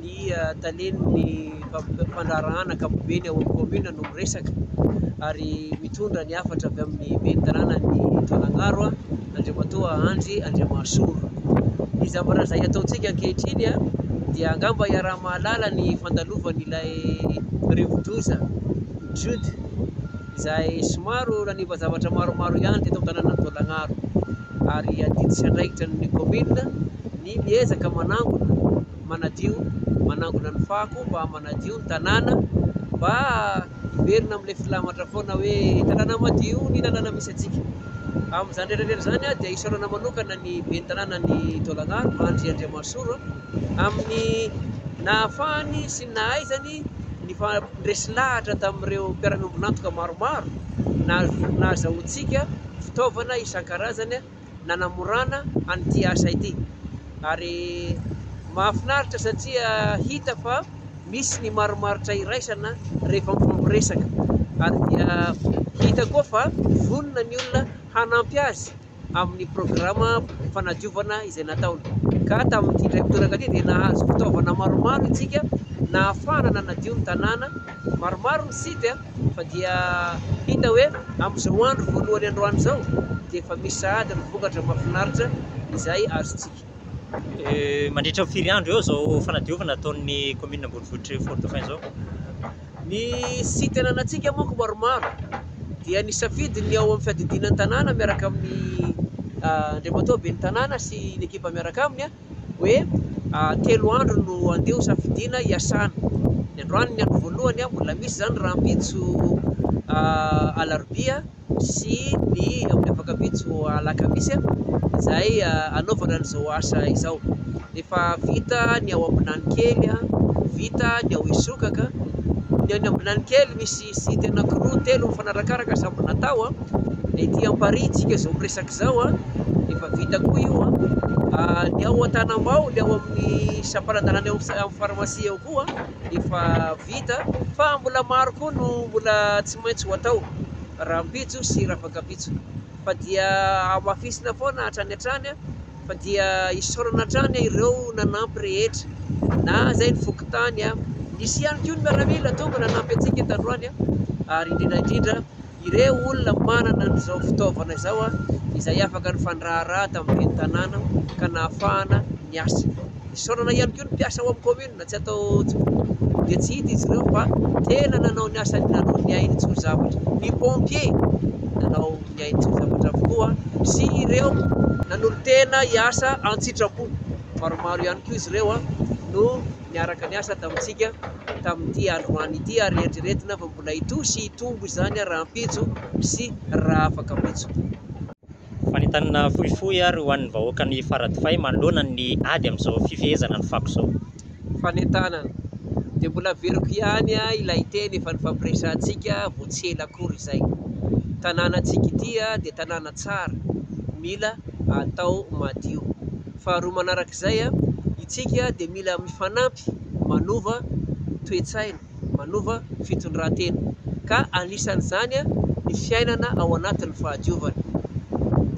Ny talen'ny mpandraharahana ankapobeny ao amin'ny kaominina no miresaka ary mitondra ny hafatra avy amin'ny ben'ny tanànan'i Taolagnaro, Andriamatoa Andry Andriamahasoa. Ny zavatra izay ataontsika ankehitriny dia angamba iaraha-mahalala ny fandalovan'ilay rivodoza Jude izay somary nanimba zavatra maromaro ihany teto amin'ny tanànan'i Taolagnaro. ary adidy sy andraikitra ny kaominina ny miezaka manangona, manadio, manangona ny fako mba manadio ny tanàna mba hiverina amin'ilay filamatra foana hoe tanàna madio ny lalàna misy antsika. Amin'izany rehetra rehetra izany dia isaorana manokana ny ben'ny tanànan'i Taolagnaro, Andry Andriamasoro, amin'ny nahafahany sy ny nahaizany ny Niresy lahatra tamin'ireo mpiara-miombon'antoka maromaro nahazoantsika fitaovana isan-karazany nanamorana an'ity asa ity. Ary mahafinaritra satria hita fa misy ny marimaritra iraisana rehefa mifampiresaka. Ary dia hita koa fa vonona ny olona hanampy azy amin'ny programa fanadiovana izay nataony. Ka tamin'ity indray mitoraka ity dia nahazo fitaovana maromaro isika nahafahana nanadio ny tanàna, maromaro ny site fa dia hita hoe amin'izao andro voalohany androany izao dia efa misy sahady ny vokatra mahafinaritra izay azontsika. Mandritra ny firy andro eo izao fanadiovana ataon'ny kaominina ambonivohitr'i Fort Dauphin izao? Ny site ananantsika manko maromaro dia nisafidy ny ao amin'ny fiadidiana ny tanàna miaraka amin'ny ah, andriamatoa ben'ny tanàna sy ny ekipa miaraka aminy ah, hoe ah, telo andro no andeha hosafidiana hiasana. Ny androany ny andro voalohany, mbola misy izany rahampitso ah, alarobia. sy ny amin'ny afak'ampitso alakamisy izay anaovana an'izao asa izao. Efa vita ny ao Ambinanikely, vita ny ao Isokaka. Ny any Ambinanikely misy site anankiroa telo mifanarakaraka samy natao. Ny ety Amparihy tsika izao miresaka izao efa vita koa io. Ny ao Antanambao, ny ao amin'ny sampanadalana eo amin'ny pharmacie eo koa. efa vita fa mbola maro koa no mbola tsy maintsy ho atao rahampitso sy rafakapitso fa dia hamafisina foana hatrany hatrany fa dia isaorana hatrany ireo nanampy rehetra na izay ny fokontany a nisy ihany koa ny miaramila tonga nanampy antsika tandroany a ary indrindra indrindra ireo olona manana an'izao fitaovana izao izay afaka nifandraharaha tamin'ireny tanàna ka nahafahana niasa. Isaorana ihany koa ny mpiasa ao amin'ny kaominina, tsy atao dia tsy hita izy ireo fa tena nanao ny asany, nanao ny ainy tsy ho zavatra. Ny pompier nanao ny ainy tsy ho zavatra avokoa sy ireo nanolo-tena hiasa an-tsitrapo, maromaro ihany koa izy ireo no niaraka niasa tamintsika tamin'ity androany ity ary eritreretina fa mbola hitohy sy hitombo izany rahampitso sy raha afaka ampitso. Fanentanana fohifohy ary ho an'ny vahoakan'i Faradofay manoloana ny ady amin'izao fifehezana ny fako izao. Fanentanana. Dia mbola averiko ihany ilay teny efa nifampiresahantsika vao tsy ela akory izay. Tanànantsika ity dia tanàna tsara, mila atao madio. Faharoa manarak'izay, itsika dia mila mifanampy manova toe-tsaina, manova fitondran-tena, ka anisan'izany ny fiainana ao anatin'ny fahadiovana.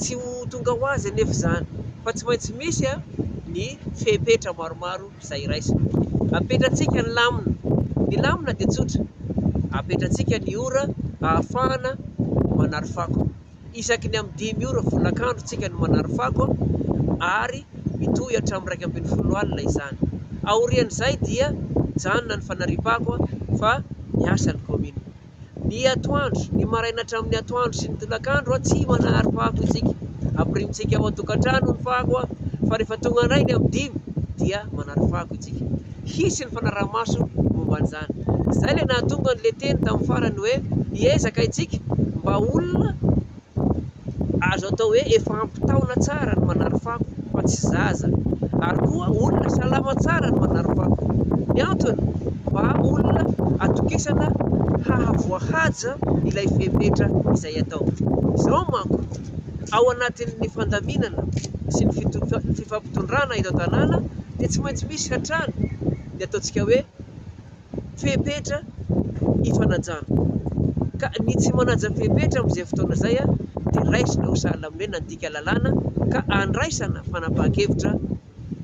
Tsy ho tonga ho azy anefa izany, fa tsy maintsy misy ny fepetra maromaro izay raisina. Apetratsika ny lamina. Ny lamina dia tsotra, apetratsika ny ora ahafahana manary fako. isaky ny amin'ny dimy ora folakandro tsika no manary fako ary mitohy hatramin'ny iraika ambin'ny folo alina izany. Aorian'izay dia mijanona ny fanariam-pako fa miasa ny kaominina. Ny atoandro, ny maraina hatramin'ny atoandro sy ny tolakandro tsy manary fako isika. Ampirimitsika ao an-tokantrano ny fako fa rehefa tonga indray ny amin'ny dimy dia manary fako isika. hisy ny fanaraha-maso momba an'izany. Izay ilay nahatonga an'ilay teny tamin'ny farany hoe, Hiezaka isika mba ho olona azo atao hoe efa ampy taona tsara ny manary fako, fa tsy zaza, ary koa olona salama tsara ny manary fako. Ny antony? Mba olona atokisana hahavoahaja ilay fepetra izay atao. Izao manko. ao anatin'ny fandaminana sy ny fifampitondrana eto an-tanàna dia tsy maintsy misy hatrany ny ataontsika hoe fepetra ifanajana. Ka ny tsy manaja fepetra amin'izay fotoana izay dia raisina ho sahala amin'ny hoe nandika lalàna ka andraisana fanapahan-kevitra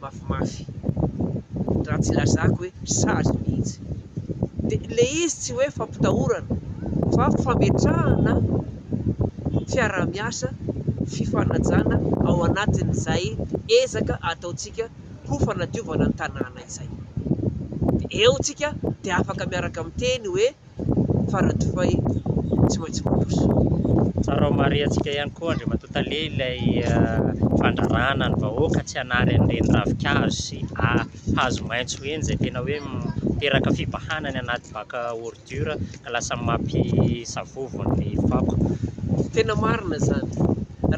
mafimafy raha tsy lazako hoe sazy mihitsy. Dia ilay izy tsy hoe fampitahorana fa fametrahana fiaraha-miasa, fifanajana ao anatin'izay ezaka ataontsika ho fanadiovana ny tanàna izay. Dia eo tsika dia afaka miaraka miteny hoe. Faradofay tsy maintsy mandroso. Tsara ho marihantsika ihany koa Andriamatoa Tale ilay fandraràna ny vahoaka tsy hanary an'ireny ravin-kazo sy hazo maitso ireny izay tena hoe miteraka fibahana ny anaty bac à ordures ka lasa mampisavovo ny fako. Tena marina izany.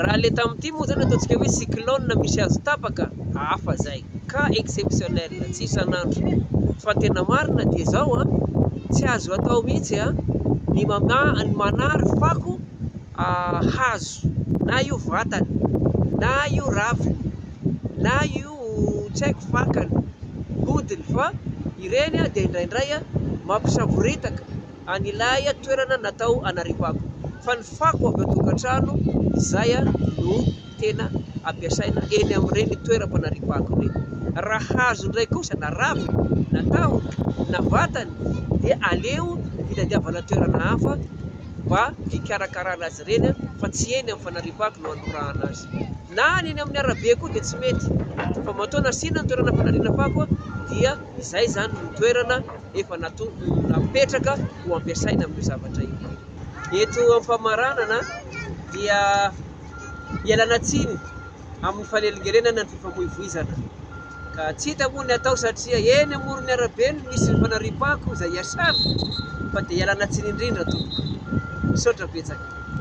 Raha le tamin'ity moa zany ataontsika hoe cyclone misy azo tapaka, hafa zay, cas exceptionnel, tsy isan'andro. Fa ny tena marina dia zao an, tsy azo atao mihitsy an, ny mamaha, ny manary fako hazo, na io vatany, na io raviny, na io tsy haiko fakany, hodiny, fa ireny dia indraindray an mampisavoritaka. an'ilay toerana natao hanariavako fa ny fako avy ao an-tokantrano izay no tena ampiasaina eny amin'ireny toeram-panariavako ireny. Raha hazo indray kosa na ravina na tahony na vatany dia aleo hitadiavana toerana hafa mba hikarakarana azy ireny fa tsy eny amin'ny fanariavako no hanorahana azy. Na ny eny amin'ny arabe koa dia tsy mety fa matoa nasiana ny toerana fanariana fako dia izay izany no toerana efa napetraka ho ampiasaina amin'io zavatra io. Eto am-pamaranana dia ialana tsiny amin'ny fanelingelenana ny fifamoivoizana. Ka tsy hita moa ny atao satria eny amoron'ny arabe no misy ny fanariam-pako izay iasana fa dia ialana tsiny indrindra tompoko. Misaotra betsaka.